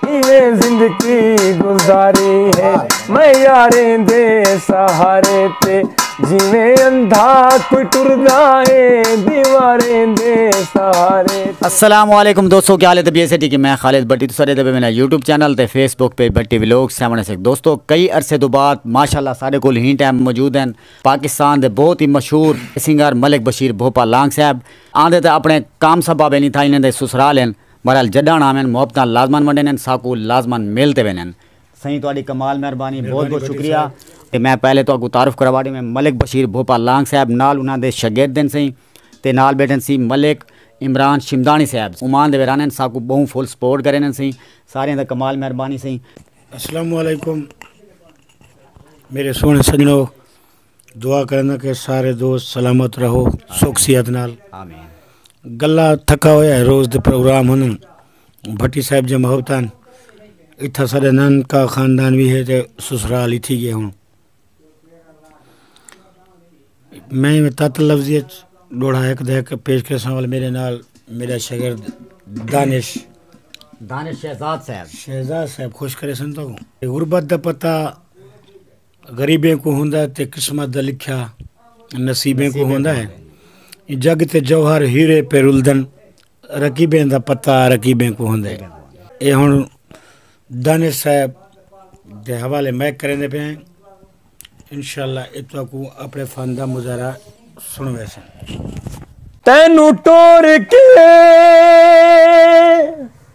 کیویں زندگی گزاری ہے میں یاریں دے سہارے تے جیویں اندھا کوئی ٹردا ہے دیواریں دے سہارے السلام علیکم دوستو کیا حالت بی ایس ٹی کی میں خالد بٹی تو سارے دے میرا یوٹیوب چینل تے فیس بک پہ بٹی ویلوگ سیون سک دوستو کئی عرصے تو بعد ماشاءاللہ سارے کول ہی ٹائم موجود ہیں پاکستان دے بہت ہی مشہور سنگر ملک بشیر بھوپا لانگ صاحب آندے تے اپنے کام سبب نہیں تھا انہیں دے سسرال ہیں بہرحال جڈانڑ آوین محبتاں لازمن ونڈینن ساکو لازمن مل تے وینن۔ سئیں تہاڈی کمال مہربانی بہت بہت شکریہ۔ تے میں پہلے تہاکوں تعارف کراوا ڈیویں ملک بشیر بھوپا لانگ صاحب نال انہاں دے شگرد ہن سئیں تے نال بیٹھن سی ملک عمران شمدانی صاحب عمان دے ویران ہن ساکوں بہوں فل سپورٹ کرینن سئیں ساریاں دا کمال مہربانی سئیں۔ السلام علیکم میرے سوہنے سجنو دعا کرنا کہ سارے دوست سلامت رہو سکھ صحت نال گلا تھکا ہویا ہے روز دے پروگرام ہن بھٹی صاحب جے محبتان اتھا سارے نن کا خاندان بھی ہے تے سسرال ہی تھی گئے ہوں میں تت لفظی ڈوڑا ایک دے کے پیش کر سوال میرے نال میرا شاگرد دانش دانش شہزاد صاحب شہزاد صاحب خوش کرے سن تو غربت دا پتہ غریبیں کو ہوندا ہے تے قسمت دا لکھیا نصیبیں کو ہوندا ہے جگ تے جوہر ہیرے پہ رلدن رقیبیں دا پتہ رقیبیں کو ہوندا ہے اے ہن دانش صاحب دے حوالے میں کریندے پے ہیں انشاءاللہ اے تہاکو اپنے فن دا مظاہرہ سنوے سن تینوں ٹور کے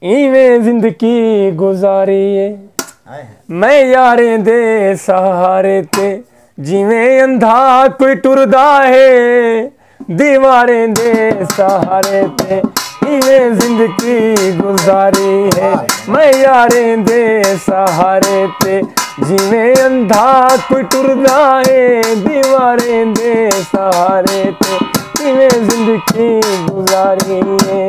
ایویں زندگی گزاری ہے میں یاریں دے سہارے تے جیویں اندھا کوئی ٹردا ہے دیواریں دے سہارے تے ایویں زندگی گزاری ہے میں یاریں دے سہارے تے جیویں اندھا کوئی ٹردا ہے دیواریں دے سہارے تے ایویں زندگی گزاری ہے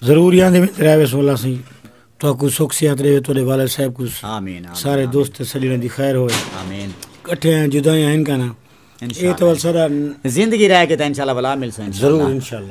ضرور یاں دے وچ رہ ویسوں اللہ سائیں تہاکوں سکھ صحت ݙیوے تہاڈے والد صاحب کوں آمین سارے دوست سجݨاں دی خیر ہوئے آمین کٹھے ہیں جدائیاں ہیں کنا اے تو سارا زندگی رہ کے تے انشاءاللہ بلا مل سائیں ضرور انشاءاللہ